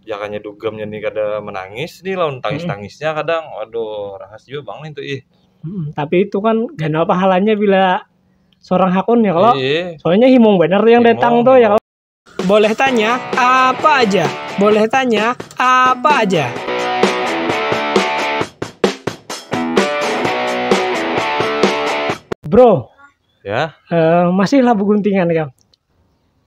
ya kanya dugamnya nih kada menangis nih lawan tangis-tangisnya kadang waduh rahas juga bang nih tuh ih Hmm, tapi itu kan ganal pahalanya bila seorang hakun ya kalau Iya. soalnya himung benar tuh yang Himung, datang tuh ya himung. kalau boleh tanya apa aja boleh tanya apa aja bro ya eh, masih labu guntingan ya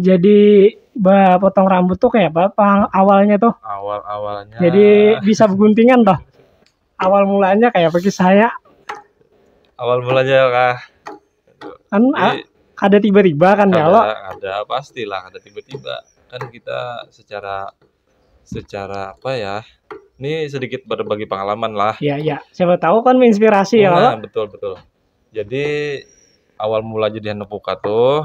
jadi bah potong rambut tuh kayak apa pang awalnya tuh awal awalnya jadi bisa beguntingan toh awal mulanya kayak apa kisahnya awal mulanya kah kan Jadi, a- ada tiba-tiba kan ya lo ada, ada pastilah ada tiba-tiba kan kita secara secara apa ya ini sedikit berbagi pengalaman lah ya ya siapa tahu kan menginspirasi ya lo nah, betul betul jadi awal mula jadi anak buka tuh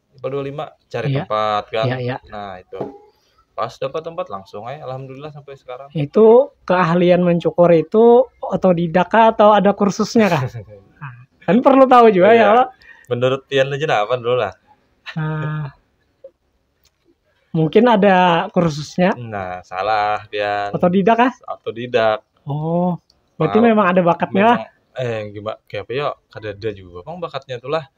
25 cari iya. tempat kan iya, iya. nah itu pas dapat tempat langsung aja alhamdulillah sampai sekarang itu keahlian mencukur itu otodidak atau ada kursusnya kah nah, kan perlu tahu juga iya. ya menurut Tian aja nah, apa dulu lah nah, mungkin ada kursusnya nah salah Tian otodidak kah otodidak oh berarti Mal, memang ada bakatnya memang, eh gimana kayak apa ya ada ada juga bang bakatnya itulah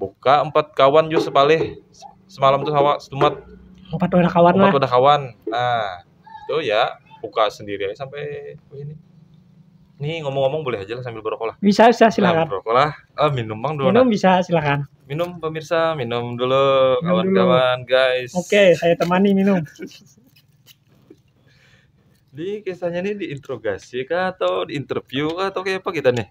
Buka empat kawan jua sepalih semalam tuh hawa setumat empat wadah kawan empat wadah kawan nah itu ya buka sendiri aja sampai ini ini ngomong-ngomong boleh aja lah sambil berokok lah bisa bisa silakan nah, berokok lah ah, minum bang dulu minum bisa silakan minum pemirsa minum dulu kawan-kawan guys oke okay, saya temani minum di kisahnya ini diinterogasi kah atau diinterview kah atau kayak apa kita nih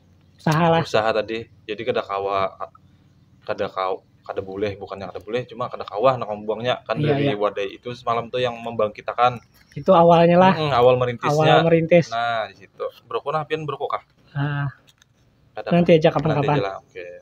usaha lah usaha tadi jadi kada kawa kada kawa kada boleh bukannya kada boleh cuma kada kawa nak membuangnya kan iya, dari iya. wadai itu semalam tuh yang membangkitakan itu awalnya lah hmm, awal merintisnya awal merintis nah di situ berokok nah pian berokok kah ah, kada nanti aja kapan-kapan oke okay.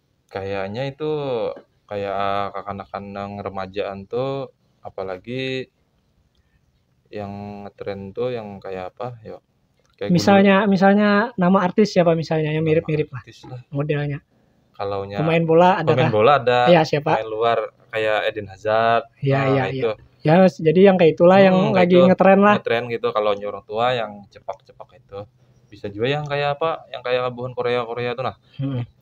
Kayanya itu kaya kakanakan nang remajaan tu apa lagi yang trend tu yang kaya apa yo kaya gundul. Misalnya misalnya nama artis siapa misalnya yang mirip-mirip lah Artis lah. modelnya. Kalau nya Pemain bola ada pemain kah? bola ada, Ya, siapa? pemain luar kayak Eden Hazard. Ya, Nah, ya, itu. Ya, jadi yang kayak itulah yang Hmm, lagi gitu. ngetren lah. Ngetren gitu kalau nya orang tua yang cepak-cepak itu. Bisa juga yang kayak apa? Yang kayak buhan Korea-Korea tu nah. Hmm.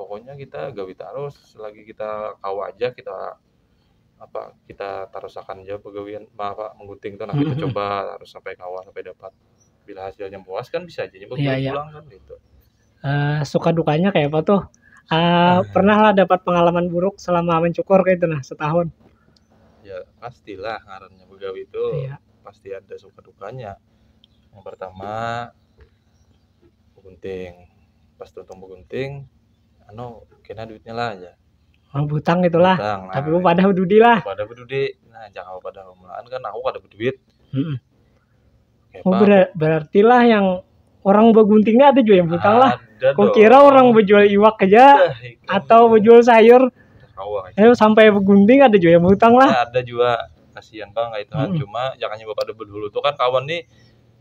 pokoknya kita gawi tarus selagi kita kawa aja kita apa kita tarusakan aja pegawaian apa mengguting tuh nah kita hmm. coba harus sampai kawan sampai dapat bila hasilnya puas kan bisa aja nyoba yeah, yeah. pulang kan gitu uh, suka dukanya kayak apa tuh uh, uh. pernah lah dapat pengalaman buruk selama mencukur kayak itu nah setahun ya pastilah karena begawi itu yeah. pasti ada suka dukanya yang pertama begunting pas tuntung begunting anu kena duitnya lah aja Oh, butang itulah. Butang, nah. Tapi pada bedudi lah. pada bedudi nah jangan pada mulaan kan aku kada beduit Mm-mm. Kayak Oh, apa? ber- berarti lah yang orang begunting ini ada juga yang butang lah. Ada Kau dong. kira orang bejual iwak aja Dah, ikan atau itu. bejual sayur, Udah kawa kayak eh, sampai begunting ada juga yang butang lah. Nah, ada juga kasihan bang kayak itu kan. Mm-mm. cuma jangan nyoba pada bedulu tuh kan kawan nih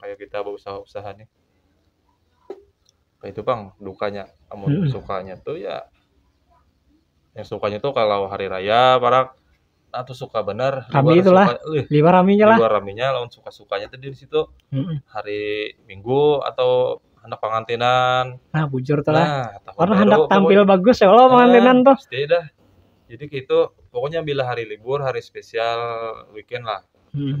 kayak kita berusaha-usaha nih itu bang dukanya amun hmm. sukanya tuh ya yang sukanya tuh kalau hari raya barak nah tuh suka bener kami itulah suka, lima raminya lah lima raminya lawan suka sukanya tuh di situ hmm. hari minggu atau anak pengantinan nah bujur tuh nah, lah karena hendak tampil pokoknya. bagus ya kalau nah, pengantinan tuh pasti dah jadi gitu pokoknya bila hari libur hari spesial weekend lah hmm.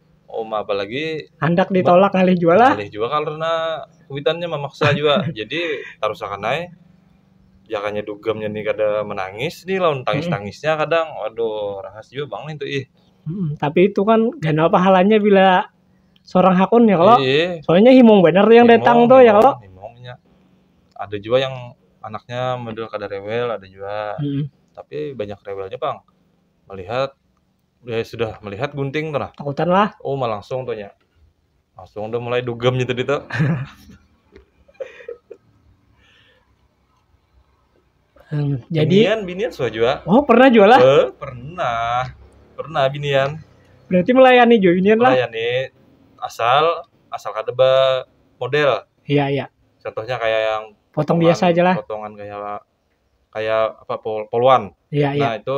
Oh, ma, apalagi Handak ditolak ngalih jua lah. Ngalih jua karena kuitannya memaksa jua. Jadi tarusakan ai. Jakanya dugamnya nih kada menangis nih lawan tangis-tangisnya kadang. Waduh, rahas jua bang nih tuh ih. Hmm, tapi itu kan ganal pahalanya bila seorang hakun ya kalau. Iya. Soalnya himung bener tuh yang Himung, datang tuh ya himung, kalau. himungnya. Ada juga yang anaknya model kada rewel, ada juga. Hmm. Tapi banyak rewelnya bang. Melihat Udah sudah melihat gunting tuh nah. Takutan lah. Oh, mah langsung tuh ya. Langsung udah mulai dugemnya tadi tuh. Hmm, jadi binian binian sudah juga. Oh, pernah juga lah. Eh, pernah. Pernah binian. Berarti melayani juga binian lah. Melayani asal asal kada model. Iya, iya. Contohnya kayak yang potong biasa aja lah. Potongan kayak kayak apa pol poluan. Iya, iya. Nah, itu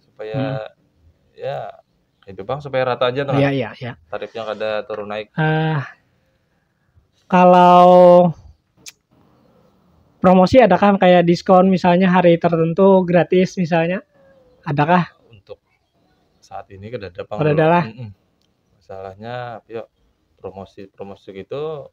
supaya hmm. ya itu bang supaya rata aja tuh iya iya iya tarifnya kada turun naik uh, kalau promosi ada kan kayak diskon misalnya hari tertentu gratis misalnya adakah untuk saat ini kada ada bang ada lah mm -mm. masalahnya yuk promosi promosi gitu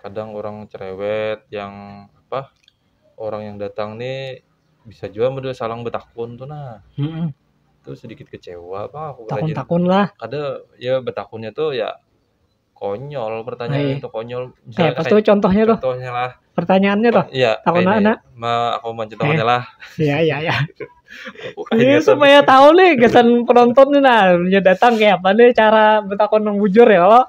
kadang orang cerewet yang apa orang yang datang nih bisa jua model salang betakun tuh nah hmm. itu sedikit kecewa bang aku takun takun lah ada ya betakunnya tuh ya konyol pertanyaan Hai. itu konyol misalnya eh, pas tuh contohnya tuh contohnya lah pertanyaannya tuh iya takut anak ma aku mau contohnya eh. lah iya iya iya ini supaya tahu nih kesan penonton nih nah datang kayak apa nih cara bertakon yang bujur ya lo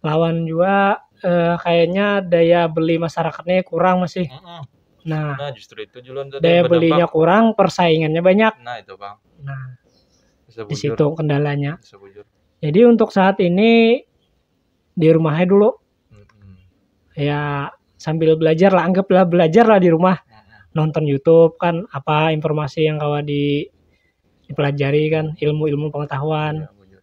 lawan jua eh, kayaknya daya beli masyarakatnya kurang masih Mm-mm. nah Nah, justru itu Julun tadi daya berdampak. belinya kurang persaingannya banyak Nah, itu Bang. nah Bisa di bujur. situ kendalanya Bisa bujur. jadi untuk saat ini di rumahnya dulu Mm-mm. ya sambil belajar lah anggaplah belajar lah di rumah Mm-mm. nonton YouTube kan apa informasi yang kawa di dipelajari kan ilmu-ilmu pengetahuan Ya, bujur.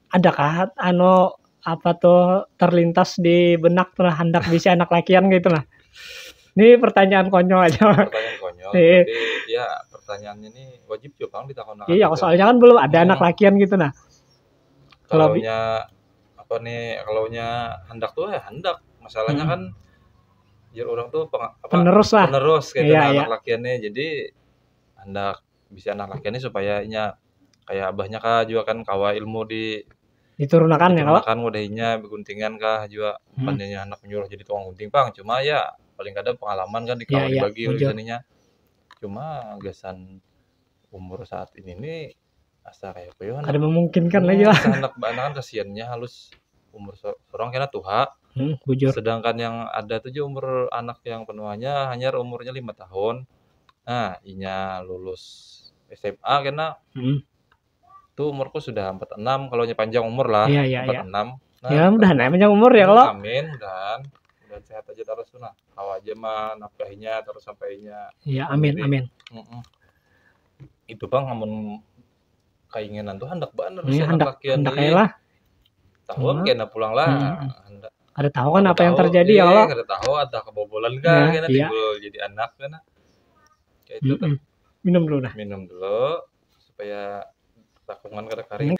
ada kah ano apa tuh terlintas di benak tuh handak bisi anak lakian gitu lah ini pertanyaan konyol aja pertanyaan konyol iya. tapi ya pertanyaan ini wajib juga kan ditakon iya gitu. soalnya kan belum ada hmm. anak lakian gitu nah kalau nya apa nih kalau nya handak tuh ya handak masalahnya hmm. kan jadi orang tuh peng, apa, penerus lah penerus kayak gitu, iya, nah, iya. anak lakiannya jadi handak bisi anak laki ni supaya inya kaya abahnya kah jua kan kawa ilmu di Diturunakan ya kawa. digunakan wadah inya beguntingan kah jua Hmm. pan inya anak menyuruh jadi tukang gunting pang cuma ya paling kada pengalaman kan di Ya, kawa ya, dibagi oleh bujur. gasan inya cuma gasan umur saat ini ni asa kaya apa yo Kada memungkinkan lah jua. Asa handak baanakan kasiannya halus umur so- sorang kena tuha Hmm, bujur. sedangkan yang ada tu jua umur anak yang penuhanya hanyar umurnya lima tahun Nah, inya lulus SMA kena Hmm. tu umurku sudah 46 kalau nya panjang umur lah Iya, iya, iya. 46 Nah, ya mudah nih panjang umur ya kalau. amin mudahan mudahan sehat aja terus tuh nah kau aja mah nafkahinya terus sampainya Ya amin amin. Mm-mm. itu bang amun kainginan tuh handak banar Ini handak handak ya lah. Tahu hmm. kena pulang lah. Hmm. Ada tahu kan apa yang terjadi ya Allah. Ada tahu ada kebobolan kan ya, kena iya. jadi anak kena. Kayak itu kan. Minum dulu dah. Minum dulu supaya takungan kada kering.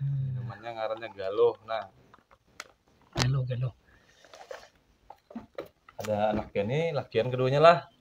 Minumannya ngarannya galuh. Nah. Galuh galuh. Ada anaknya nih, lakian keduanya lah.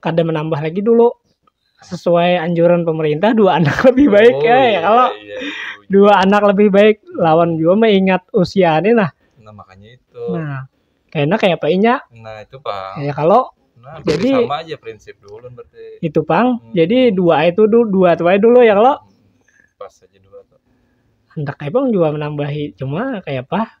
kada menambah lagi dulu sesuai anjuran pemerintah dua anak lebih baik oh, ya, ya iya, kalau iya, iya, iya. dua anak lebih baik lawan juga mengingat usia ini nah nah makanya itu nah kayaknya kayak apa inya nah itu pak ya kalau Nah, jadi sama aja prinsip dulu berarti. Itu pang. Hmm. Jadi dua itu dulu dua tuh dulu ya kalau. Hmm. Pas aja dua tuh. Entah kayak pang juga menambahi cuma kayak apa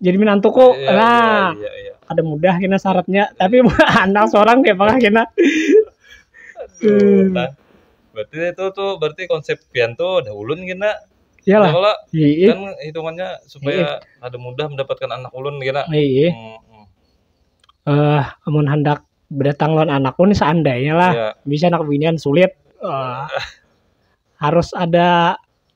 jadi menantuku yeah, iya, nah yeah, yeah, yeah. ada mudah kena syaratnya yeah. tapi anak seorang kayak apa kena hmm. nah, berarti itu tuh berarti konsep pian tuh udah ulun kena ya lah kalau iya. kan hitungannya supaya Iyi. ada mudah mendapatkan anak ulun kena iya hmm. hmm. uh, amun hendak berdatang lawan anak pun seandainya lah yeah. bisa anak binian sulit uh, harus ada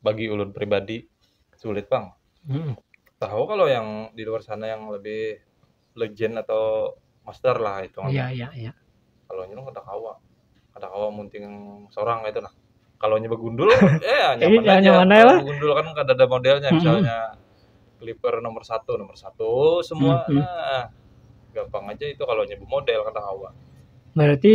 bagi ulun pribadi sulit pang hmm. tahu kalau yang di luar sana yang lebih legend atau master lah itu iya iya iya kalau nyuruh kada kawa kada kawa munting seorang itu nah kalau nyoba gundul ya nyaman iya, aja nyaman aja lah gundul kan kada ada modelnya hmm. misalnya clipper nomor satu nomor satu semua hmm. nah, gampang aja itu kalau nyoba model kada kawa berarti